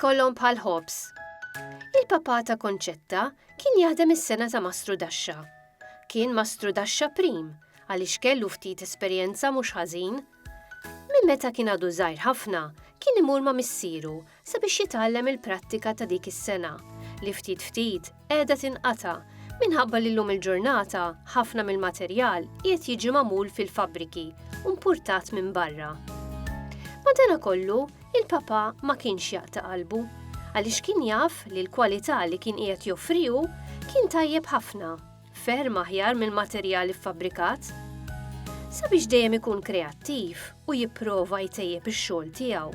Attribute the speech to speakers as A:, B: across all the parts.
A: kollhom bħal ħobs. Il-papa ta' Konċetta kien jaħdem is-sena ta' Mastru Daxxa. Kien Mastru Daxxa prim għaliex kellu ftit esperjenza mhux ħażin. Minn meta kien għadu żgħir ħafna, kien imur ma' missieru sabiex jitgħallem il-prattika ta' dik is-sengħa li ftit ftit qiegħda tinqata' minħabba li llum il-ġurnata ħafna mill-materjal qiegħed jiġi magħmul fil-fabbriki u mpurtat minn barra. Madanakollu, il-Papa ma kienx jaqta' qalbu għaliex kien jaf li l-kwalità li kien qiegħed joffri hu kien tajjeb ħafna. ferm aħjar mill-materjal iffabbrikat. Sabiex dejjem ikun kreattiv u jipprova jtejjeb ix-xogħol tiegħu,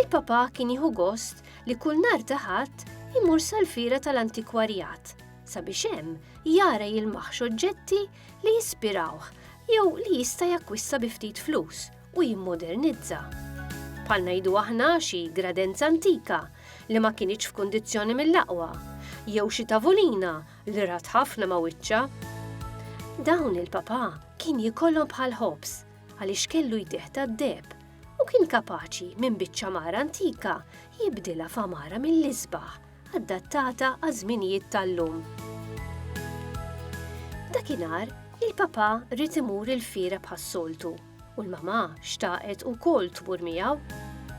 A: il-papà kien jieħu gost li kull nhar ta' Ħadd imur sal-fira tal-antikwarjat sabiex hemm jara jilmaħx oġġetti li jispirawh jew li jista' jakkwista bi ftit flus u jimmodernizza. Bħal ngħidu aħna xi gradenza antika li ma kinitx f'kundizzjoni mill-aqwa, jew xi tavulina li rat ħafna ma' wiċċha. Dawn il-papà kien jikollhom bħal ħobs għaliex kellu jdih tad-deb u kien kapaċi minn biċċa mara antika jibdilha f'amara mill-isbaħ adattata għaż-żminijiet tal-lum. Dakinhar, il-papà rid imur il-fira bħas-soltu u l-mamà xtaqet ukoll tmur miegħu.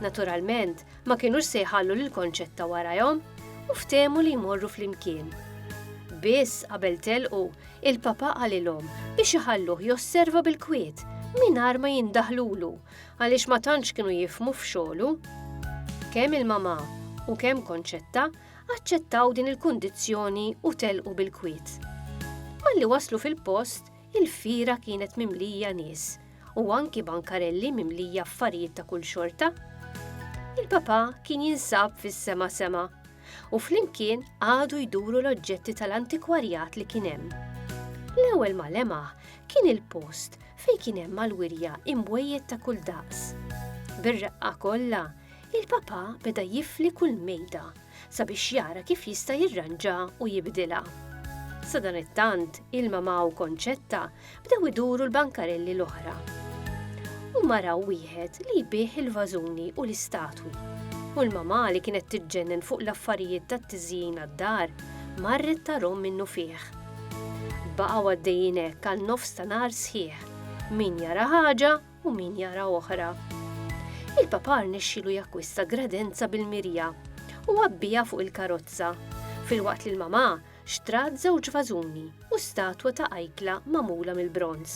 A: Naturalment, ma kinux se jħallu lil Konċetta warajhom u ftehmu li jmorru flimkien. Biss qabel telqu, il-papa qalilhom biex iħalluh josserva bil-kwiet mingħajr ma jindaħlulu għaliex ma tantx kienu jifmu f'xogħlu. Kemm il-mamà u kemm Konċetta aċċettaw din il-kundizzjoni u telqu bil-kwiet. Malli waslu fil-post, Il-fiera kienet mimlija nies u anki bankarelli mimlija affarijiet ta' kull xorta. Il-Papa kien jinsab fis-sema sema u flimkien qagħdu jduru l-oġġetti tal-antikwarjat li kien hemm. L-ewwel ma lemaħ kien il-post fejn kien hemm mal-wirja imwejjed ta' kull daqs. Bir-reqqa kollha, il-Papa beda jifli kull mejda sabiex jara kif jista' jirranġa u jibdilha. Sadanittant, il-mamà u Konċetta bdew iduru l-bankarelli l-oħra. U maraw wieħed li jbih il-vażuni u l-istatwi. U l-mamà li kienet tiġġennen fuq l-affarijiet tat-tiżjin għad-dar, marret tarhom minnu fih. Baqgħu għaddejjin hekk għal nofs ta' nhar sħiħ. Min jara ħaġa, u min jara oħra. Il-Papa rnexxielu jakkwista gradenza bil-mirja u għabbiha fuq il-karozza, filwaqt li l-mamà xtrat żewġ vażuni u statwa ta' ajkla magħmula mill-bronż.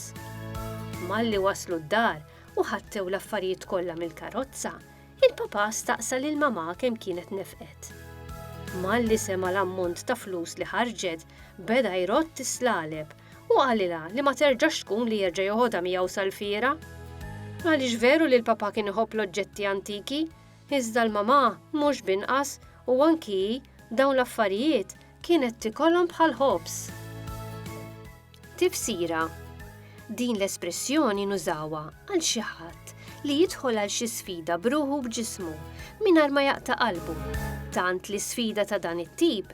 A: Malli waslu d-dar u ħattew l-affarijiet kollha mill-karozza, il-Papa staqsa lil mamà kemm kienet nefqet. Malli sema l-ammont ta' flus li ħarġet, beda jrott is-slaleb u qalilha li ma terġax tkun li jerġa' joħodha miegħu sal-fiera. Għaliex veru li l-papà kien iħobb l-oġġetti antiki, iżda l-mamà mhux b'inqas u anki hi dawn l-affarijiet kienet tikolhom bħal ħobż. Tifsira Din l-espressjoni nużawha għal xi ħadd li jidħol għal xi sfida bruħu b'ġismu mingħajr ma jaqta' qalbu, tant li sfida ta' dan it-tip